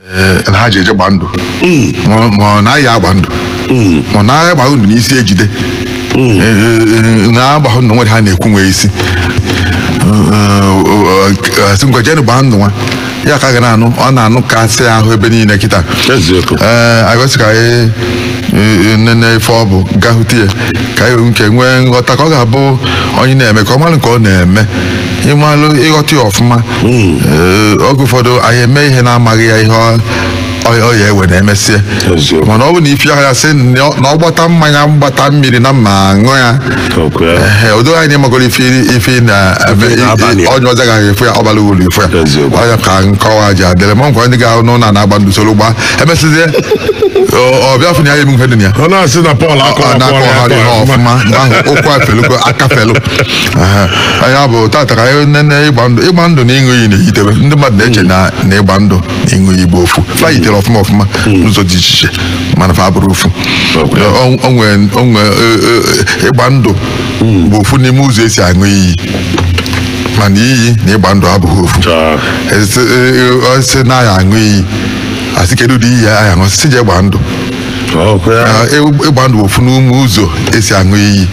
ee na ha je-eje gbaa ndụ ma ma ọ naghị agba ndụ ma ọ naghị agba ndụ n'isi e jide Ee, ee, na-agba ndụ nwere ha na-ekwu nwee isi Ee, ee, ee, a sị ngwa jenu gbaa ndụ nwa ya ka a ga na-anụ ọ na-anụkasị ahụ ebe niile kịta eziokwu ee e wee sị ka anyị e, nene ife ọ bụ ghọta ya ka anyị nke nwee nghọta ka ọ ga-abụ onye na-eme ka ọ malụ nke ọ na-eme ị malụ ị ghọta ya ọfụma Ee, oge ụfọdụ anyị eme ihe na-amaghị ya ihe ọ- ọ- ọ ya-ewe na e mesịa Eziokwu. mana ọ bụ na ife ahụ ya sị na ọ- na ọ gbata mmanya gbata mmiri na mma aṅụ ya Okwu ya. Ehe, o doo gị anya ị magoro ife ife na ebe- Ife na-abalị ya. onye ọzọ gaghị efu ya ọ bara uru efu ya Eziokwu. ọ ya ka nkọwa ji adịrị maka ndị ga-ahụ n'ụlọ na-agba ndụ soro gbaa e mesịzie ọ bịa fụ na ya emume dị na ya ọ na-asị na ọ bụlụ a kọwa na-akọgharị ha ọfụma mgbe ahụ ụkwụ afelugo aka afelu ya bụ tata ka anyị nene ịgba ndụ ịgba ndụ na ịṅụ iyi na-eyite ebe ndị mmadụ na-eche na na ịgba ndụ ịṅụ iyi bụ ofu fa yitere ọfụma ọfụma n'ụzọ dị iche iche mana fa abụrọ ofu Okay. Ọ- ọ nwee- ọ nwee, e- e- e- ịgba ndụ bụ ofu n'ime ụzọ esi aṅụ iyi mana iyi na ịgba ndụ abụghị ofu Chaa. A sị- e- e- a sị na a ya-aṅụ iyi a sị kedu ụdị iyi a ya-aṅụ a sị je gbaa ndụ Okwu ya. Ah, e- ịgba ndụ bụ ofu n'ime ụzọ esi aṅụ iyi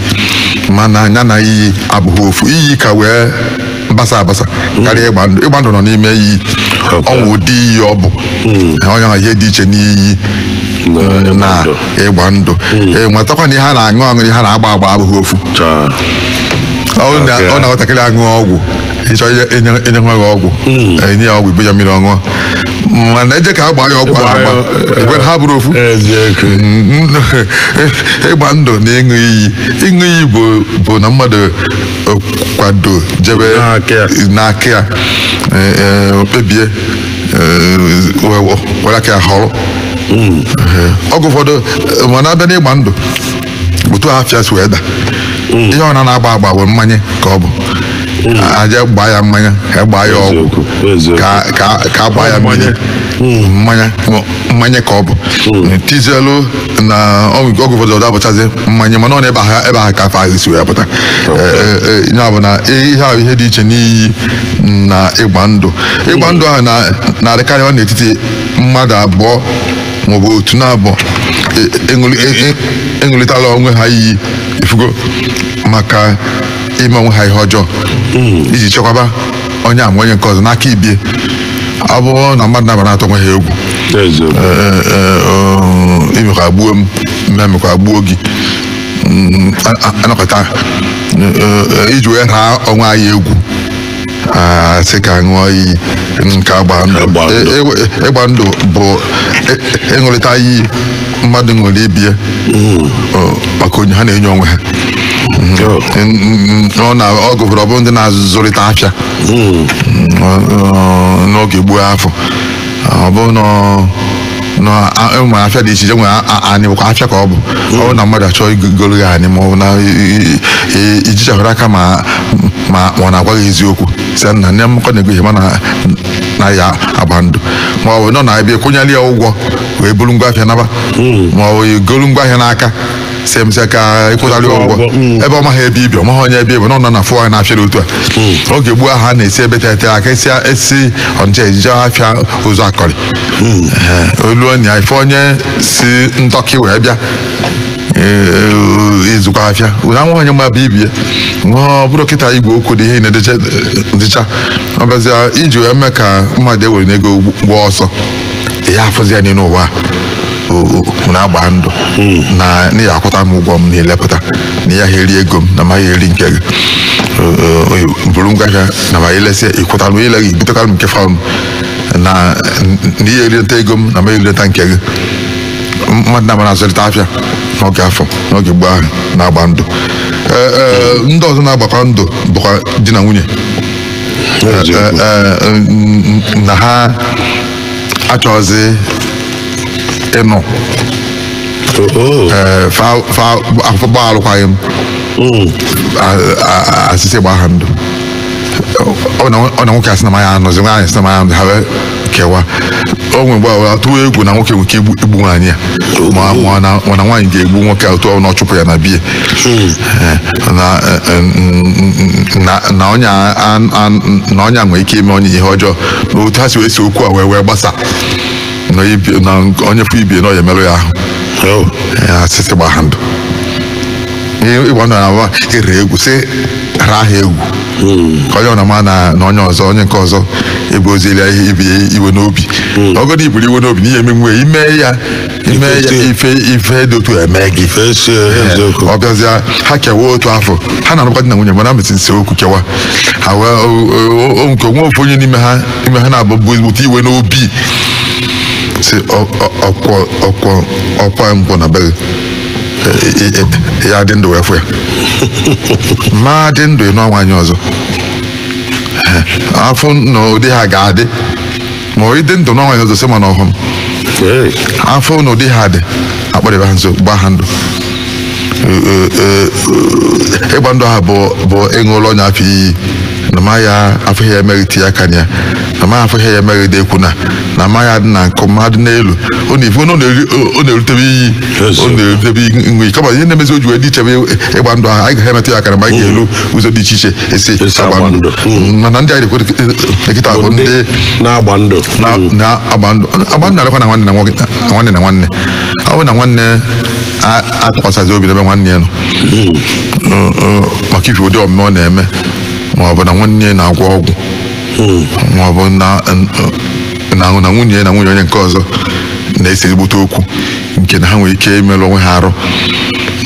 mana nya na iyi abụghị ofu iyi ka wee basa abasa karịa ịgba ndụ ịgba ndụ nọ n'ime iyi Okay. o nwere ụdị iyi ọ bụ nya bụ ihe dị iche n'iyi Na- na ndụ. ịgba ndụ Ee, nwetakwa na ihe a na-aṅụ aṅụ ihe a na-agba agba abụghị ofu Chaa. ọ na- Okay. ọ na nwatakịrị aṅụ ọgwụ ị chọọ ihe- inye inye nwa gị ọgwụ e nye ya ọgwụ i nye ya mmiri ọ ṅụọ mana e jee ka a gbaa ya ọgwụ a agba igwe ha abụrọ ofu Eziokwu. ịgba ndụ na ịṅụ iyi ịṅụ iyi bụ bụ na mmadụ kwado jebe N'aka ya. n'aka ya eh, eh, o kpebie eh, we- we- were aka ya họrọ Eh, oge ụfọdụ eh, mana a bịa n'ịgba ndụ otu afa ya si wee da ihe a na-agba agba bụ mmanya ka ọ bụ e jee gbaa ya mmanya a gbaa ya ọgwụ Eziokwu, eziokwu. ka ka ka a gbaa ya mmanya mmanya mmanya ka ọ bụ tizielu na oge oge ụfọdụ ọ da abụchazi mmanya mana ọ na ebe ahụ ebe ahụ ka afa ahụ si wee pụta ya bụ na ihe ahụ ihe dị iche n'iyi na ịgba ndụ ịgba ndụ ahụ na- na-adịkarị n'etiti mmadụ abụọ maọbụ otu na abụọ e- aṅụlị- e- e- aṅụlịtala onwe ha iyi ị fụgo maka ime onwe ha ihe ọjọọ iji chekwaba onye a ma onye nke ọzọ n'aka ibie ọ bụrụ na mmadụ naabọ na-atụ onwe ha egwu eziokwu Ee, ee, um, i meka gbuo m m emeka gbuo gị Mm, a- a- anọkọta Ee, ee, iji wee raa onwe anyị egwu a sị ka a ṅụọ iyi nke agba ndụ Ịgba ndụ. Ee, ịgba- ịgba ndụ bụ ị- ịṅụrịta iyi mmadụ ṅụrụ ibie hmm. maka enyo ha na-enyo onwe ha ọ na ọ gụbụrụ ọ bụ ndị na-azụrịta afịa hmm. n'oge gboo afụ ọ bụ na e nwe afịa dị iche iche nwere anị bụkwa afịa ka ọ bụ hmm. ọ bụ na mmadụ achọọ igoro ya anị ma ọ bụ na i jichahụ aka ma ọ na-agwa gị eziokwu sị na nne m ka ọ na-ego ihe mụ na ya agbaa ndụ ma ọ bụ na ọ na-abịa kwụnyere ya ụgwọ wee buru ngwa ahịa naba ma ọ bụ golu ngwa ahịa n'aka sị e mesịa ka ịkwụtarị Ịkwụ ụgwọ ụgwọ, mm. ebe ọ maghị ebe i bi ọ maghị onye ebe i bi na ọ nọ na-afụ anya n'afịa otu a oge gboo ahụ a na-esi ebe tete aka esi esi Ọnịcha ejeje afịa Ụzụakọlị Ee, olu na ị fụ onye si Ndoki wee bịa ee, ịzụkwa afịa ụra nwa onye ma bụ ibie nwa ọ bụrọ kịta igwe okwu dị ihe niile dịcha ọ bịazịa iji wee mee ka mmadụ ewerena ego gbaa ọsọ ya afụzi ya n'elu ụwa a na-agba ndụ na ị ya-akwụta m ụgwọ m na i lepụta na ị yaha eri ego m na ma ya eri nke gị buru ngwa ahịa na ma e lesịa ị kwụta m i leghị butekwara m ngwa afịa m na na ihe erita ego m na ma erita nke gị mmadụ naabọ na-azụlita afịa n'oge afụ n'oge gboo ahụ na-agba ndụ Ee, ee, ndị ọzọ na-agbakwa ndụ bụkwa di na nwunye na ha achọghịzi ịnọ fa achọọ gbaa alụkwaghị m hmm. a sị sị gbaa ha ndụ ọ na nwoke asị na ama ya anọzi nwaanyị sị na ama ya anọzi ha kewa o nwe mgbe a tụwa egwu na nwoke nwe ike igbu igbu nwaanyị a ma ma na ma na nwaanyị ga-egbu nwoke a otu ọ na ọ chụpụ ya na be ya Eh, na eh, eh, n- na na onye a- a- a- na onye a nwere ike ime onye ihe ọjọọ na otu ha si wee see okwu a wee wee gbasaa na ibi- na onye fụ ibie na ọ ya-emerụ ya ahụ Oh. a sị sị gbaa ha ndụ ihe ịgba ndụ na-abụ ịra egwu sị ra ha egwu ka onye ọna ma na na onye ọzọ onye nke ọzọ ebuzila ibie iwe n'obi ọgọdọ iburu iwe n'obi na ihe emenwe ime ya ime ya Ife- ife ife dị otu eme gị Esi eziokwu. ọ bịazịa ha kewa otu afụ ha na-alụkwa di na nwunye mana mesịa see okwu kewa ha wee o- o- o- nwe ike nwee ofu onye n'ime ha ime ha na-ebu ebu ezigbote iwe n'obi sị ọkwọ ọkwọ ọkwa nkwọ na be gị ya dị ndụ wee fụ ya ma dị ndụ ịnụ nwaanyị ọzọ afọ na ụdị ha ga-adị ma ọ dị ndụ na nwaanyị ọzọ sị ma na ọhụrụ afọ na ụdị ha dị akpọrịba ha nso gbaa ha ndụ ịgba ndụ ahụ bụ ịṅụlụ onye afụ iyi na ma ya afọ ya emeghị ti ya kanya na ma afọ ya emeghị dị ekwu na na ma ya dị na nkụ mmadụ n'elu ọ na-erutebe iyi ọ na-edebe nwe kama ihe na-emezi o ji wee dị iche ebe ịgba ndụ ahụ anyị ga-emetụ ya aka ma anyị ga-elu mm. ụzọ dị iche iche esi agba ndụ mm. mana ndị anyị kwuru kịta bụ ndị na-agba ndụ na-agba ndụ agba ndụ alekwa na nwanne na nwanne ọ bụ na nwanne atụkwasịzi obi n'ebe nwanne ya nọ mm. maka ife ụdị omume ọ na-eme ma ọ bụ na nwanne na-agwọ ọgwụ ma ọ bụ na na-ahụ na nwunye ya na nwunye onye nke ọzọ na-ese ezigbote okwu nke na ha nwere ike imerụ onwe ha arụ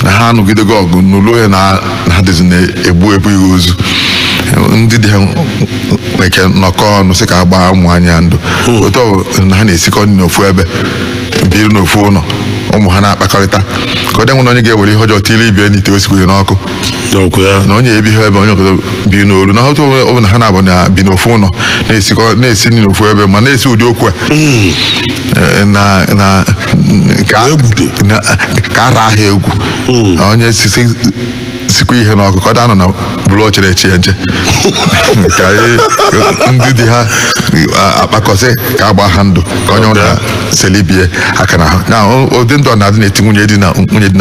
na ha anụgidego ọgụ n'ụlọ ya na na ha dịzi na-egbu ebu ihe ozu ndị di ha nwere ike nọkọ ọnụ sị ka a gbaa ụmụ nwaanyị a ndụ otu ọ bụ na ha na-esikọ nri n'ofu ebe biri n'ofu ụlọ ụmụ ha na-akpakọrịta ka ọ dị enwena onye ga-ewere ihe ọjọọ tiri ibie n'ite o sikwere n'ọkụ n'okwu ya na onye ebighị ebe onye ọzọ bi n'olu na otu ọ bụla ha naabọ na-ebi n'ofu ụlọ na-esikọ na-esi nri n'ofu ebe ma na-esi ụdị okwu a Eh, na na ka Egbudu. na- ka ara ahịa egwu Na onye sisi sikwa ihe n'ọkụ ka ọ danụ na buru oche na-eche ya nche ka anyị- ndị di ha a- akpakọsị ka a gbaa ha ndụ ka onye ọbụla seli ibie aka na na ụdị ndụ a na-adị n'etiti nwunye di na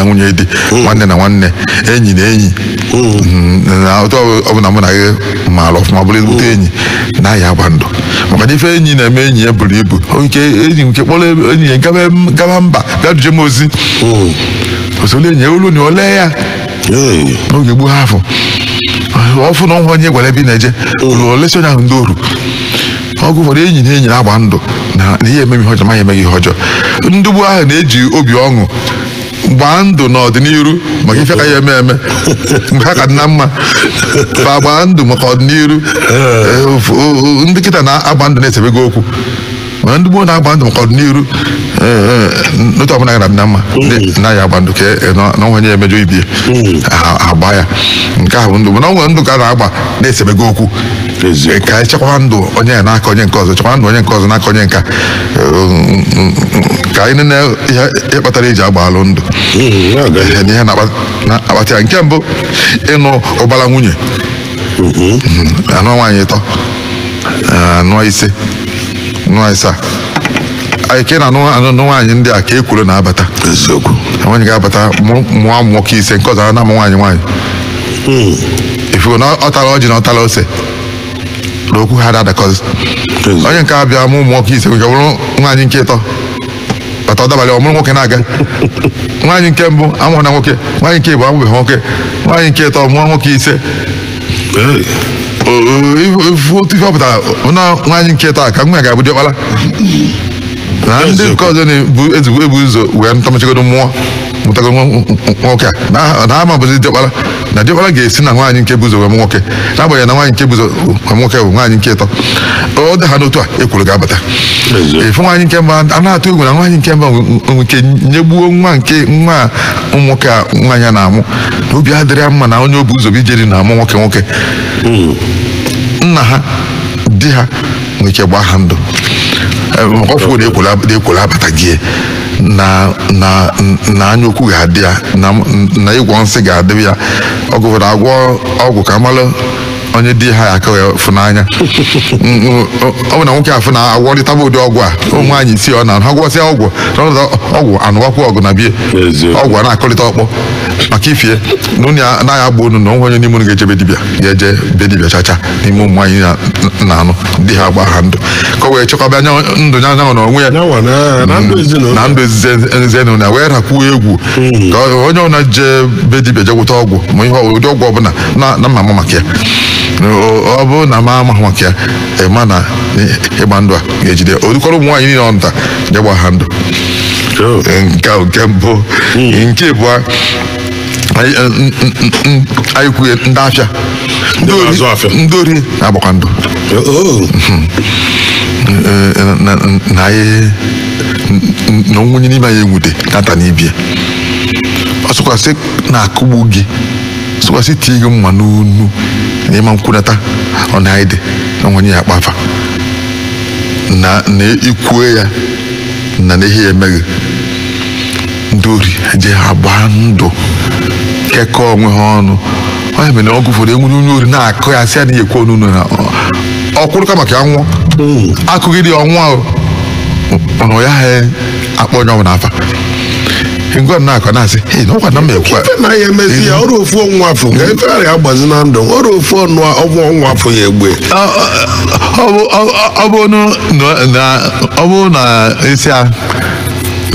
nwunye di nwanne na nwanne enyi na enyi Mm, na otu ọ bụla mụ na gị maara ọfụma bụrụ ezigbote enyi na ya agba ndụ maka na ife enyi na-eme enyi ya buru ibu O nke enyi nwe ike kpọrọ enyi ya gaba gaba mba bịa duje m ozi o solu enyi ya o lue na o lee ya Hey. n'oge gboo afụ ọ fụ na o nwe onye gwara ebe ị na-eje o lu o lesi onye ahụ ndị oru oge ụfọdụ enyi na enyi na-agba ndụ na na ihe emeghị ihe ọjọọ ma ya emeghị ihe ọjọọ ndị gboo ahụ na-eji obi ọṅụ gbaa ndụ n'ọdịnihu maka ife ka ya eme eme mgbe ha ka dị na mma ba gbaa ndụ maka ọdịnihu Eh, of- o- o- ndị kịta na-agba ndụ na esebego okwu mana ndị gboo na-agba ndụ maka ọdịnihu eh, eh, n'otu ọbụla ga-adị na mma ndị na-aya agba ndụ ka e- na na enwe onye emejọ ibie ha agba ya nke ahụ bụ ndụ mana ọ nwere ndụ ka a na-agba na esebeghị okwu Eziokwu. ka anyị chekwaba ndụ onye a n'aka onye nke ọzọ chekwaba ndụ onye nke ọzọ n'aka onye nke a ka anyị nene ihe ihe kpatara eji agbalụ ndụ Mm, ya ga- ihe na ihe na-akpa- na-akpata ya nke mbụ ịnụ ụbara nwunye anụa nwaanyị ịtọ anụa ise anụa asaa anyị ka ị na-anụ anụ nwaanyị ndị a ka ekworo na-abata eziokwu nwaanyị ga-abata mụ- mụọ ụmụ nwoke ise nke ọzọ a na-amụ nwaanyị nwaanyị ị fụgo na ọ tara ọjị na ọ tara ose na okwu ha ada adakọzi onye nke a bịa mụ ụmụ nwoke ise nke bụrụ nwaanyị nke ịtọ bata ọ dabalị ọ mụrụ nwoke na-aga nwaanyị nke mbụ amụrọ nwa nwoke nwaanyị nke ịbụa amụbeghị nwoke nwaanyị nke ịtọ mụọ nwoke ise ị fụ otu ife ọ pụtara na nwaanyị nke ịtọ a ka nwa ya ga-abụ diọkpara na ndị nke ọzọ na-ebu ezigbo ebu ụzọ wee nụta mechagodu mụọ mụtago nwa- nwa- nwoke a na- na ama abụzi diọkpara na diọkpara ga-esi na nwaanyị nke bu ụzọ wee mụ nwoke n'agbanyeghị na nwaanyị nke bu ụzọ wee mụ nwoke bụ nwaanyị nke ịtọ ọ dị ha n'otu a ekworo ga-abata Eziokwu. efu nwaanyị nke mbụ a na-atụ egwu na nwaanyị nke mbụ nwere ike nyegbuo nwa nke nwa a ụmụ nwoke a nwaanyị a na-amụ na obi adịrị ya mma na onye o bu ụzọ bịa ije di na-amụ nwoke nwoke nna ha di ha nwere ike gbaa ha ndụ Eh, maka ọ fụ na ekworo abatago na na na anya ukwu ga-adị ya na na ịgwọ nsị ga-adị ya oge ụfọdụ agwọ ọgwụ ka a malụ onye di ha ya-aka wee fụ n'anya Mm, mm, ọ bụ na nwoke afụ na agwọrịtaba ụdị ọgwụ a ụmụ nwaanyị isi ọ na ha gwọsịa ọgwụ n'ọnọdụ ọgwụ anụwakwa ọgụ na bie Eziokwu. ọgụ a na-akụlịta ọkpọ maka ife a na unu ya anaghị agba unu na o nwee onye n'ime unu ga-eje be dibịa ga-eje be dibịa chacha n'ime ụmụ nwaanyị na- na-anụ di ha agba ha ndụ ka o wee chekwaba anya ndụ ya yanwa na onwe ya Yanwa na- na ndụ ezinụlọ. na ndụ ezinụlọ ya wee rakwuo egwu ka onye ọbụla jee be dibịa je gwụta ọgwụ ma ihe ọ- ụdị ọgwụ ọbụla na na mụ ama maka ya O- ọ bụrụ na mụ amaghị maka ya ị ma na ị- ịgba ndụ a ga-ejide o dukọrọ ụmụ nwaanyị niile ọ nụta je gba ha ndụ nke a bụ nke mbụ nke abụọ anyị eh, n- n- n- n- anyị kwuye ndị afịa Ndị na-azụ afịa. ndị ori na-agbakwa ndụ Oh, Eh, eh, na- na- na anyị n- n- na o nwee onye n'ime anyị enwude nata n'ibie ọ sịkwa sị na-akụgbu gị sịkwa sị tie gị mma n'onu na ị ma nkwunata ọ na anyị dị na o nwe onye ya-akpa afa na na i kwue ya na na ihe ya emeghị ndị ori je agba ndụ kekọọ onwe ha ọnụ ọ ya mere na oge ụfọdụ enwere onye ori na-akụ ya sị ya na-ekwu ọnụ ụlọ na ọ kwụrụ kama ka ya nwụọ a kụgide ya ọ nwụọ mana ọ ya ha akpọ onye ọbụla afa ngwa m na-akọ na-asị "Hey, na ọkwa na m ekwe ife na ya emezi ya o ruo ofu ọnwa afọ nke ife ara ya gbazi na ndụ o ruo ofu ọnụ ọgwụ ọnwa afọ ya egbe Ọ- ọ- ọ bụ- ọ- ọ bụ na- na- ọ bụ na isi a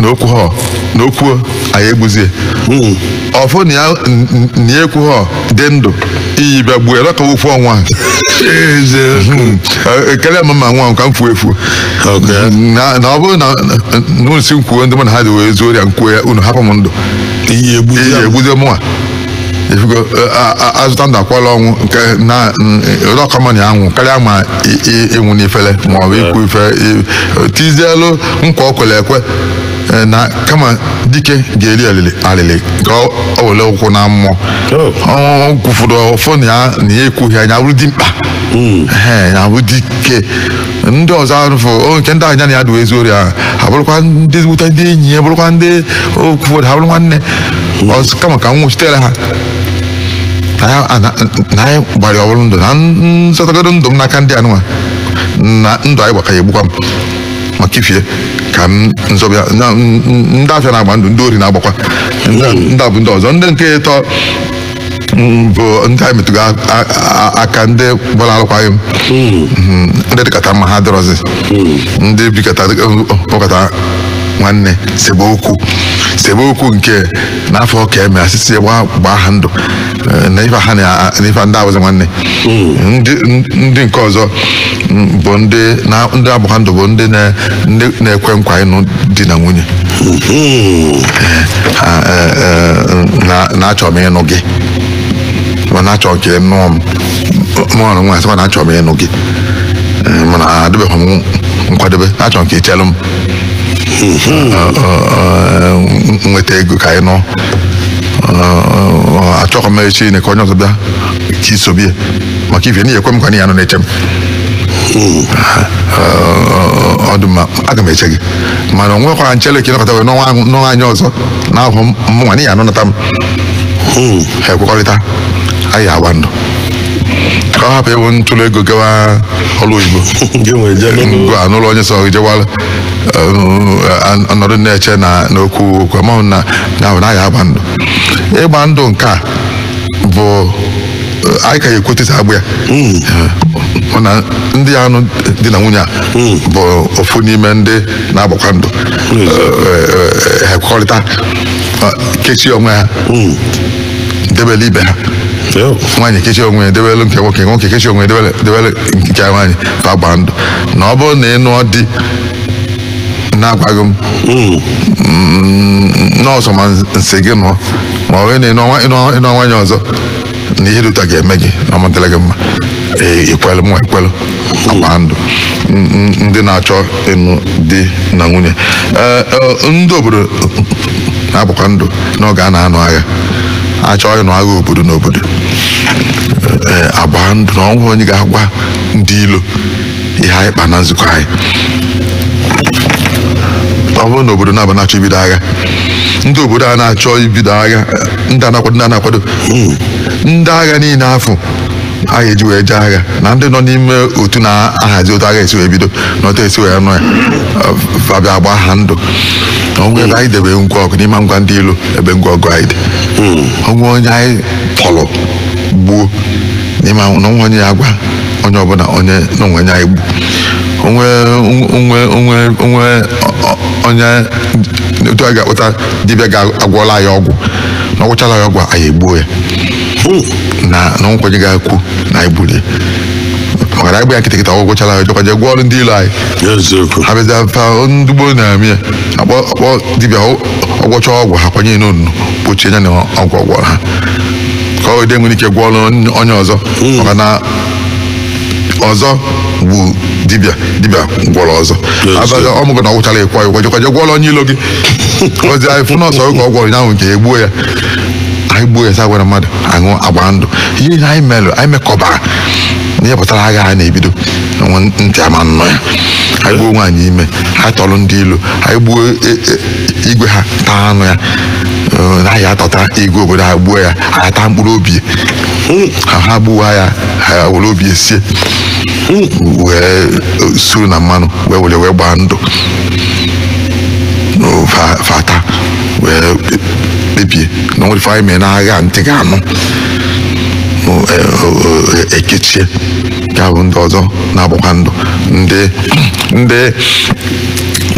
na o kwuo ha na o kwuo anyị egbuzie ọfụ na ya n- n- na ya ekwuo ha dị ndụ iyi bịa gbuo elọka ofu ọnwa Hmm. Eh, karịa ma m anwụ ka m fuo efu Okay. na na ọ bụrụ na unu sị m kwuo ndị mụ na ha dị wee zuo ori a m kwuo ya unu hapụ m ndụ iyi egbu iyi egbuzie mụnwa ifugo a zọta ndụ akwala ọnwụ nke na ọ ka mma na ị ya-anwụ karịa ma ịnwụ n'ifele ma ọ bụ ikwu ife tizielu nkwa o kwere ekwe e, na kama dike ga-eri alịlị ka o were ụkwụ naa mmụọ o kwufuru ọfọ na ya na ya ekwughị ya ya bụrụ dimkpa hmm. ya bụrụ dike ndị ọzọ arụfụ o nke ndị a ya na ha dị wee zuo ori ahụ ha bụrụkwa ndị ezigbote ndị enyi ya bụrụkwa ndị oge ụfọdụ ha bụrụ nwanne ọzọ kama ka m nwụchitere ha na ya- a- na- na anyị gbara ọbụrụ ndụ na m zọtagodo ndụ m n'aka ndị anụnwa na ndụ anyị gbaka ya egbukwa m maka ife ka m nzọbịa na m- m- ndị afịa na-agba ndụ ndị ori na-agbakwa ndụ ndị a bụ ndị ọzọ ndị nke ịtọ bụ ndị anyị metụgo aka ndị gbara alụkwaghị m hmm. ndị dịkata mma ha adịrọzi hmm. ndị bikata bụkata nwanne sebe okwu sebe okwu nke n'afọ ka e mee a sị sị gbaa ha ndụ eh, na ife ha na ife ndị a bụzi nwanne ndị ndị nke ọzọ mm, bụ ndị na ndị agbakọ ndụ bụ ndị na- ndị na-ekwe nkwa ịnụ di na nwunye Ha, eh, eh, na- na achọ m ịnụ gị mana achọ m ka ị nụọ m mụọrọ nwa asịkwa na achọ m ịnụ gị Eh, mana adịbeghị m nkwadebe achọrọ m ka ị chelụ m Ọ- ọ- ọ, nweta ego ka anyị nụọ Ọ- ọ, achọghị m echi nine ka onye ọzọ bịa ka i sobe ya maka ife na ị kwe m nkwa na ị ya-anọ na-eche m ọ dị mma aga m eche gị mana o nwekwara m chele ka ị nọkata wee nụọ nwa ahụ- nụọ nwanyị ọzọ n'ahụ m mụnwa n'ihi anọnata m ha ekwekọrịta anyị agba ndụ ka ọ hapụ ịbụ m tụrụ ego gawa ọrụ oyibo gị ewere jebe ngụ a nụrụ onye ọzọ jewala ọ nọdụ na-eche na n'okwu okwu amaghị na na ahụ na ya agba ndụ ịgba ndụ nke a bụ anyị ka ya ekwutesi agbụ ya mana ndị ya-anụ di na nwunye a bụ ofu n'ime ndị na-agbakwa ndụ ha ekwekọrịta kechie onwe ha debele ibe ha nwaanyị kechie onwe ya debele nke nwoke nwoke kechie onwe ya debele nke nwaanyị ka a gbaa ndụ na ọ bụrụ na ị nụọ di na-agwaghị m mm, na ọsọ ma m sị gị nụọ ma ọ bụrụ na ị nụọ nwanyị ọzọ na ihe dị otu a ga-eme gị na ọ ma-adịrị gị mma i kwelu mụwa ekwelu a gbaa ndụ ndị na-achọ ịnụ di na nwunye eh, eh, ndị obodo na-agbakwa ndụ n'oge a na-anụ agha a chọọ ịnụ agha obodo na obodo eh, agbaa ndụ na o nwe onye ga-agwa ndị ilo ihe anyị kpa na nzukọ anyị ọ bụrụ na obodo naabọ na-achọ ibido agha ndị obodo a na-achọ ibido agha ndị a na-akwado ndị a na-akwado ndị agha niile afụ a ga-eji wee jee agha na ndị nọ n'ime otu na-ahazi otu a ga-esi wee bido na otu esi wee nụọ ya fa abịa agbaa ha ndụ o nwee ebe anyị debe ngwa ọgụ na ị ma-agwa ndị ilo ebe ngwa ọgụ anyị dị o nwee onye anyị tọrọ gbuo n'ime na o nwe onye ya-agwa onye ọbụla onye na o nwee onye anyị gbu onwe onwe onwe onwe ọ- onye otu a ga-akpọta dibịa ga-agwọla ya ọgwụ na ọ gwọchala ya ọgwụ a, anyị egbuo ya na na o nwe onye ga-ekwu na anyị gburu ya maka na anyị gbaa ya nkịtị kịta ọ gwọ gwọchala ya jekwa je gwọọrọ ndị ilo anyị eziokwu ha bịaza fa ndị gboo na-eme ya a kpọ a kpọọ dibịa ọ- ọ gwọchaa ọgwụ ha kwanye ya n'ọnụ kpochie ya na ọgwụ ọ gwọrọ ha ka o wede nwere ike gwọọrọ onye ọzọ maka na ọzọ gbu dibịa dibịa gwọrọ ọzọ Yes, abaza sir. ị mago na ọ gwọchara ị kwụọ ya ụgwọ ọ jekwa je gwọrọ onye ilo gị ozi anyị fụ na ọsọ ọgwụ ka ọ gwọrọ nyanwụ nke egbuo ya anyị gbuo ya sị agwala mmadụ anyị agbaa ndụ ihe ihe anyị melụ anyị mekọbara na ihe gbasara agha anyị na-ebido nwe ntị ama-anụ ya anyị gbuo nwaanyị ime anyị tọrọ ndị ilo anyị gbuo e- e- igwe ha taa anụ ya eh, na ya atọta igwe obodo ha gbuo ya ha taa mkpụrụ obi ya ha gbuo ya ha were obi ya sie wee eh, suru na mmanụ wee rie wee gbaa ndụ No, fa- fa taa wee kpe- kpebie na o nwerọ ife anyị mee n'agha ntị ga-anụ No, eh, o- o- e- ekechie ya bụ ndị ọzọ na-agbakwa ndụ ndị ndị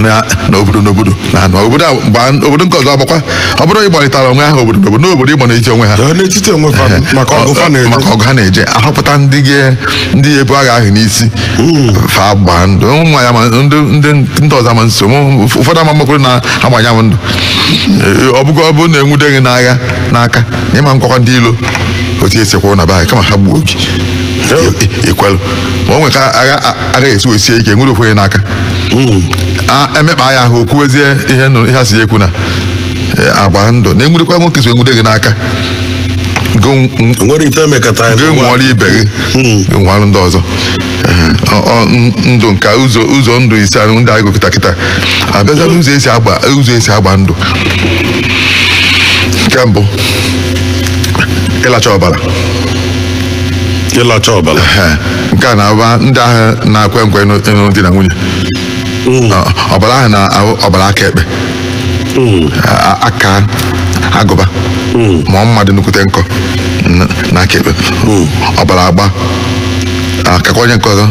na na obodo n'obodo na na obodo a gbaa obodo nke ọzọ agbakwa ọ bụrụ ịgbarịtara onwe ha obodo n'obodo n'obodo ịgba n'etiti onwe ha Ee, n'etiti onwe fa maka ọgụ fa na-eje maka ọgụ ha na-eje ahọpụta ndị ga- ndị ebu agha ahụ n'isi fa gbaa ndụ ụmụ ya ma ndị ndị ndị ọzọ ma nso ụmụ- ụf- ụfọdụ ama mmakwuru na agbanya m ndụ Ee, ọ bụgo ọ bụrụ na enwude gị n'agha n'aka na ịma ngwakwa ndị ilo otu esi kwụrụ na be anyị kama ha gbuo gị ekwelụ ma o nwere ka agha agha esi wee sie ike nwude ofu onye n'aka a emekpa ya ahụ o kwuwezie ihe nụ- ihe a sị ya ekwuna eh, agbaa ndụ na enwurekwa nwoke so enwude gị n'aka Go nw- nwere ite emekata anyị gị nwụọrọ ibe gị gị nwụọrọ ndị ọzọ Ehe. Ọ- ọ, n- ndụ nke ụzọ ụzọ ndụ ise ahụ ndị anyị gụ kịta kịta abịaza n'ụzọ esi agba ụzọ esi agba ndụ nke mbụ ịlacha ọbara ịlacha ọbara Ehe, nke a na-abụ ndị ahụ na-akwe nkwe ịnụ ịnụ di na nwunye Ọ- ọbara ahụ na ahụ- ọbara aka ekpe A- a- aka agụba ma ọ mma dụ nnukwute nkọ na- na aka ekpe ọbara agba akakwa onye nke ọzọ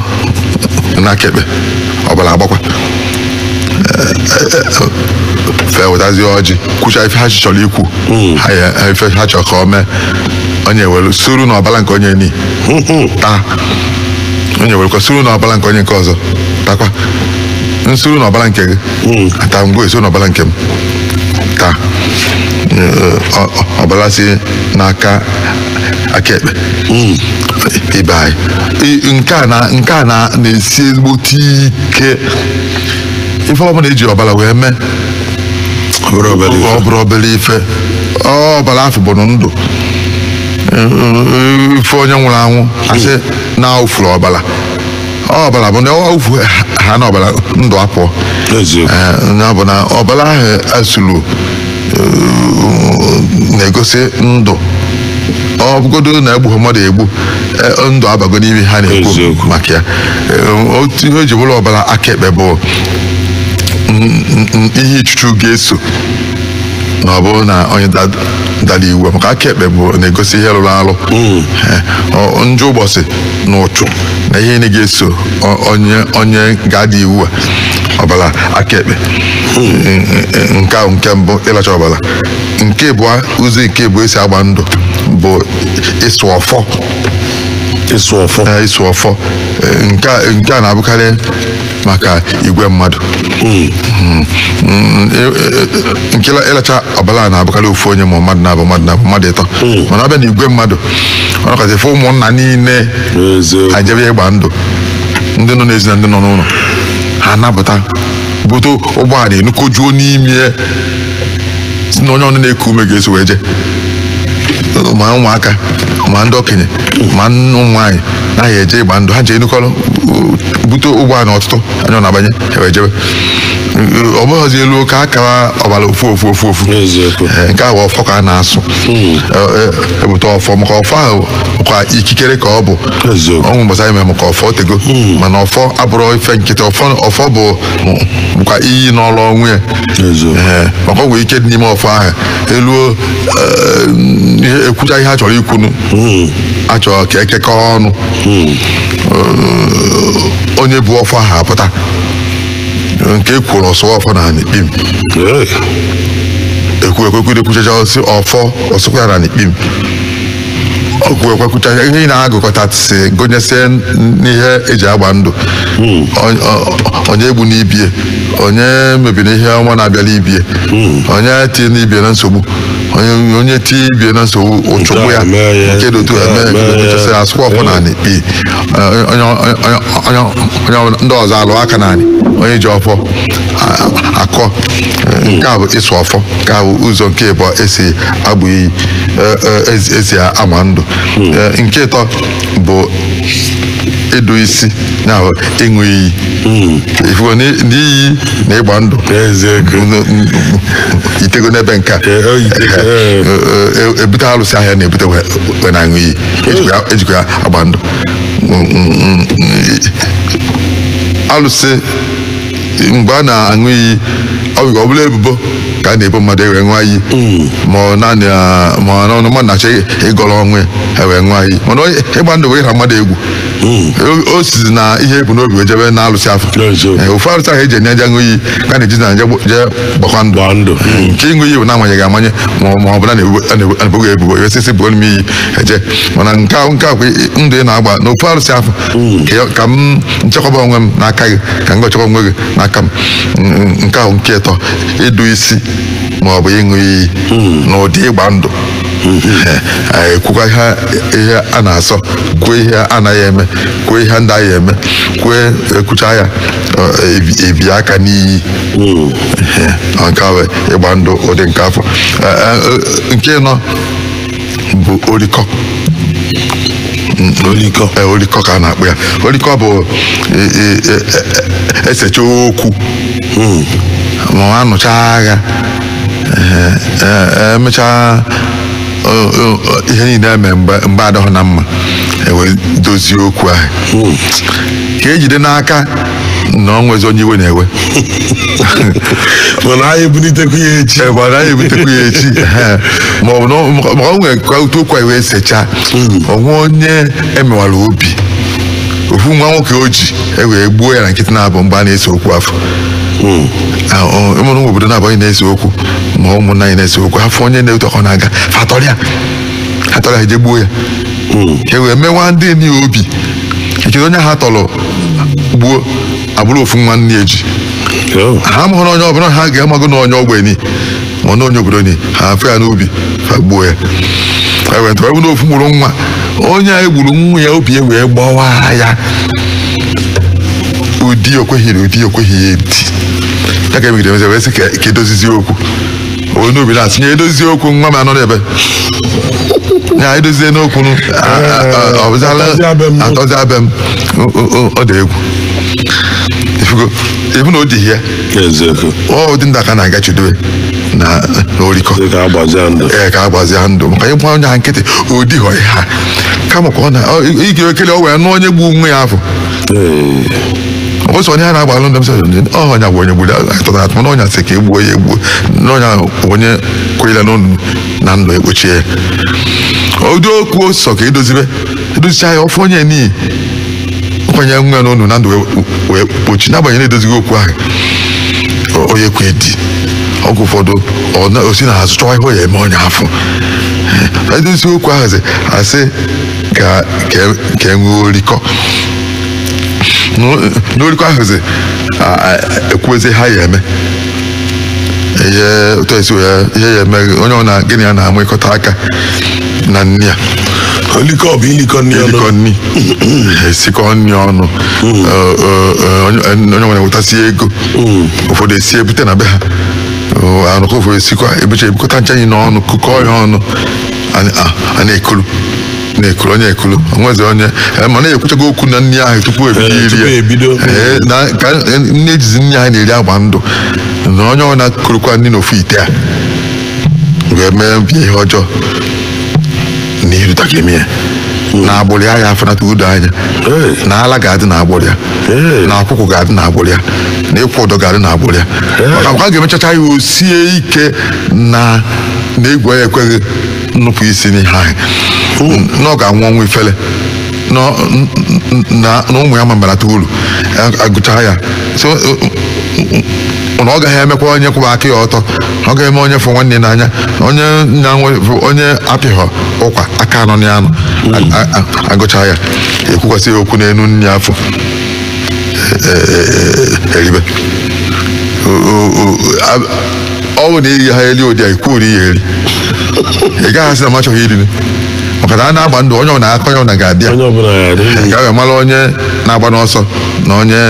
na aka ekpe ọbara agbakwa fa ewetazie ọjị kwucha ife ha chọrọ ikwu ha ya- ife ha chọrọ ka ọ mee onye were suru na ọbara nke onye ni taa onye werekwa suru na ọbara nke onye nke ọzọ takwa m suru na ọbara nke gị taa ngị esuru na ọbara nke m taa Ee, ọ- ọ- ọbara si n'aka aka ekpe ibe anyị I- nke a na nke a na na-esi ezigbote ike ife ọbụla eji ọbara wee mee Ọ bụrọ obere ife. ọ bụrọ obere ife ọ ọbara afụ bụ ndụ ị fụ onye nwụrụ anwụ asị na awụfuru ọbara ọbara bụ ndụ awụfuhana ọbara ndụ apụọ Eziokwu. Ee, ya bụ na ọbara ahụ asụrụ na-egosi ndụ ọ bụgodo na egbughị mmadụ egbu e, ndụ abago n'ime ihe a na-ekwu Eziokwu. maka ya E, otu ihe o ji bụrụ ọbara aka ekpe bụ n- n- n- ihe ichuchu ga-eso na ọ bụrụ na onye da- dara iwu maka aka ekpe bụ na-egosi ihe rụrụ arụ Eh, ọ- njọ ụbọchị na ụchụ na ihe niile ga-eso o- onye onye ga-ada iwu a ọbara aka ekpe nke ahụ nke mbụ ịlacha ọbara nke abụọ ụzọ nke abụọ esi agba ndụ bụ ịsụ ọfọ ịsụ ọfọ eh, ịsụ ọfọ eh, nke a na-abụkarị maka igwe mmadụ hmm. Hmm. Eh, nke ịlacha ọbara na-abụkarị ofu onye ma mmadụ naabọ mmadụ naabọ mmadụ ịtọ hmm. mana ọ bịa na igwe mmadụ ọ nakọta efe ụmụnna niile ajebe ịgba ndụ ndị nọ n'ezi na ndị nọ n'ụlọ ha anapụta bute ụgbọala enukojuo n'ime ya si na onye ọnụ na-eku ume ga-eso wee je ma ụmụaka ma ndị okenye mana ụmụ nwaanyị naghị eje ịgba ndụ ha je enukọrọ bute ụgbọala ọtụtụ anya ọ na-abanye ewee jebe ọ bụghịzi eluo ka a kara ọbara ofu ofu ofu ofu N'eziokwu. Ee, nke ahụ ọfọ ka a na-asụ Ee, e- ebute ọfọ maka ọfọ ahụ kwa ikikere ka ọ bụ eziokwu o nwee mgbasa anyị mere maka ọfọ o tego mana ọfọ abụrọ ife nkịtị ọfọ ọfọ bụ bụkwa iyi n'ọrụ onwe ya eziokwu Ee, maka o nwere ike dị n'ime ọfọ ahụ eluo eh, ihe ekwucha ihe a chọrọ ikwunu a chọrọ ka ekekọọ ọnụ Eh, onye bu ọfọ ahụ apụta nke ekwuru ọ sụọ ọfọ na anị kpim Ee, ekwu ekwekwu ekwuchacha ọ sị ọfọ ọ sụkwa ya na anị kpim o kwuekwakwucha ihe ihe ị na-agụkọtasị gụnyesie n'ihe eji agba ndụ Onye- o- onye egbuna ibie onye mebina ihe ọma na-abịala ibie onye tiena ibie na nsogbu onye onye tie ibie na nsogbu ụchụ gbuo ya mee ya, nke dị otu nke a eme mee ya. kechasị asụkwa ọfọ na anị kpim onye onye- onye- onye ọbụla- ndị ọzọ alụ aka naanị onye ji ọfọ a- akọ nke a bụ ịsụ ọfọ nke a bụ ụzọ nke ịbụọ esi agba iyi e- e- esi- esi agba ndụ E, nke ịtọ bụ ịdụ isi na ịṅụ iyi ifugo na iyi na ịgba ndụ Eziokwu. N- n- yitego n'ebe nke a Ee, o yitego, ee. E- e- ebute alụsị ahụ a na-ebute wee wee na-aṅụ iyi Ejikwa ya- ejikwa ya agba ndụ Mm, mm, mm, mm. alụsị mgbe a na-aṅụ iyi ọ bụ ọ bụ na ebubo ka a na-ebo mmadụ ewee ṅụọ iyi ma ọ naanị ah, ma ọ na mmadụ na-achọ ịgọrọ onwe ya ewee ṅụọ iyi mana onye- ịgba ndụ bụ ịra mmadụ egwu O- o sizi na ihe ebu n'obi wee jebe na alụsị afụ N'eziokwu. Eh, ofu alụsị ahụ eji eje aṅụ iyi ka a na-eji na-eje agba- jee gbakwa ndụ Gbaa ndụ. nke ịṅụ iyi bụ na amanyeghị amanye ma ọ- ma ọ bụ na-ebu- a na-ebu- a na eboghị ebubo ewee sị sị buolu m iyi eje mana nke ahụ nke a bụkwa ndụ ị na-agba n'ofu alụsị afụ Ka- ka m nchekwaba onwe m n'aka gị ka ngị chekwa onwe gị n'aka m N- nke ahụ nke ịtọ ịdụ isi ma ọ bụ ịṅụ iyi n'ụdị ịgba ndụ Ee, kwukwa ihe ihe a na-asọ kwuo ihe a naghị eme kwuo ihe ndị a naghị eme kwuo ekwucha ya ọ, ebi- ebie aka n'iyi Ee, nke ahụ ịgba ndụ ụdị nke afụ Ee, ee, nke ịnọ bụ orikọ olikọ ee orikọ ka a na-akpọ ya orikọ bụ e, e, e, e- esecha okwu ma ọ anụcha agha ee, ee, emechaa o- o- o- ihe niile eme mgbe mgbe adịghị na mma ewee dozie okwu ahụ ka ejide n'aka na ọ nwezi onye iwe na-ewe mana anyị ebulitekwa ya echi ebe ọ naghị ebutekwa ya echi Ehe. ma ọ bụ na ọ- ma ọ nwere ka otu okwu anyị wee sechaa o nwee onye emewara obi ofu nwa nwoke o ji e wee gbuo ya na nkịtị na-abụ mgbe a na-ese okwu afụ Ah, ọ- ịmụrụ nwa obodo na-abụghị na-ese okwu ma ụmụnna anyị na-ese okwu afụ onye na-eto ka ọ na-aga fa tọrịa atọrịa eje gbuo ya ka e wee mewa ndị ni obi echezi onye ha tọrọ gbuo abụrụ ofu nwa nne eji oh. ha mụrụ onye ọbụla ha ga-amago na onye ogbe ni ma na onye obodo ni ha afụ ya n'ubi fa gbuo ya ewetara e ọ bụrụ ofu mkpụrụ nwa onye a egburu nwa ya obi ya wee gbawa ya ụdị okweghị ụdị okweghị ya edi ya ka emegide emezi wee sị ka edozizi okwu onye obi na-asị nye edozie okwu nwa m anọ n'ebe ya edozie n'okwu nụ, a- a- a- ọ bụzala Atọzi abịa m. atọzi abịa m O- o- o- ọ dị egwu Ị fụgo, ịbụ na o dị ihe eziokwu ọ dị ndị aka na-aga chidobe na na orikọ dị ka a gbazie ndụ ee ka a gbazie ndụ maka ịgba onye ha nkịtị o dighọ ihe ha kama ka ọ na ọ- ị ga-ekele ọ wee nụ onye egburu nwa ya afụ Ee. o so onye a na-agba alụ ndị msa ọ onye a bụ onye gburu atọrọ atọ mana onye a sị ka egbuo ya egbuo na onye ahụ bụ onye kwanyere n'ọnụ na ndụ ekpochie ya ụdị okwu o sọ ka edozibe edozicha ya ọ fụ onye n'iyi nkwanye nwa ya n'ọnụ na ndụ wee- wee kpochie n'agbanyeghị na-edozighị okwu ahụ o- onye kwe di ọgwụ ụfọdụ ọ na- o si na azụ chọwa ihe ọ ya eme onye afụ edozi okwu ahụ sị asị ka ka ka e nwee orikọ N'o- n'orikọ ahụzi a- a- ekwuezi ihe a ya eme ihe otu esi ya ihe ya eme onye ọ na gịnị ya na-emekọta aka na nni ya olikọ bụ ilikọ nni ọnụ erikọ nri esikọ nri ọnụ Ọ- ọ- ọ- onye onye nwere wetasị ego ụfọdụ esie bute na be ha Ọ, anụkọ ụfọdụ esikwa ebucha ebukọta ncha anyị n'ọnụ kukọọ ya ọnụ a- a- a na-ekulu na-ekulu onye ekulu o nwezi onye eh, mana ekwuchago okwu na nri ahụ tupu ebido Eh, iri tupu ya. ebido. Eh, na ka eh, na e jizi nri ahụ na-eri agba ndụ na onye ọ na-ekurukwa nri n'ofu ite a ga-eme ibe ya ihe ọjọọ na irita ga-eme ya na agbụrụ ya ya afụnata udo anya Eh. na ala ga-adị na agbụrụ ya Eh. na akwụkwụ ga-adị na agbụrụ ya na ịkwụ ụdọ ga-adị na agbụrụ ya maka mgbe a ga-emechacha ya o sie ike na na egwu ya ekweghị nupụ isi n'ihe ahụ na ọ ga-anwụ ọnwụ ifele na ọ- n- n- na- na ụmụ ya ma mbarata uru a- agụcha ya so ọ- na ọ gaghị emekwa onye kwụba aka ya ọtọ ọ gaghị eme onye fụ nwanne ya n'anya onye na-enwe onye apịghọ ụkwa aka anọ ya anọ A- a- a- agụcha ya ekwukwasị ya okwu n'elu nri afụ e- e- e- eribe O- o- o- a- ọ bụ na iri ha eri ụdị a ikwuru ya eri ị gaghị asị na m achọghị iri nri maka na a na-agba ndụ onye ọbụna ka onye ọbụna ga-adị ya onye ọbụla ya adị ndụ. ka e wee mara onye na-agbalụ ọsọ na onye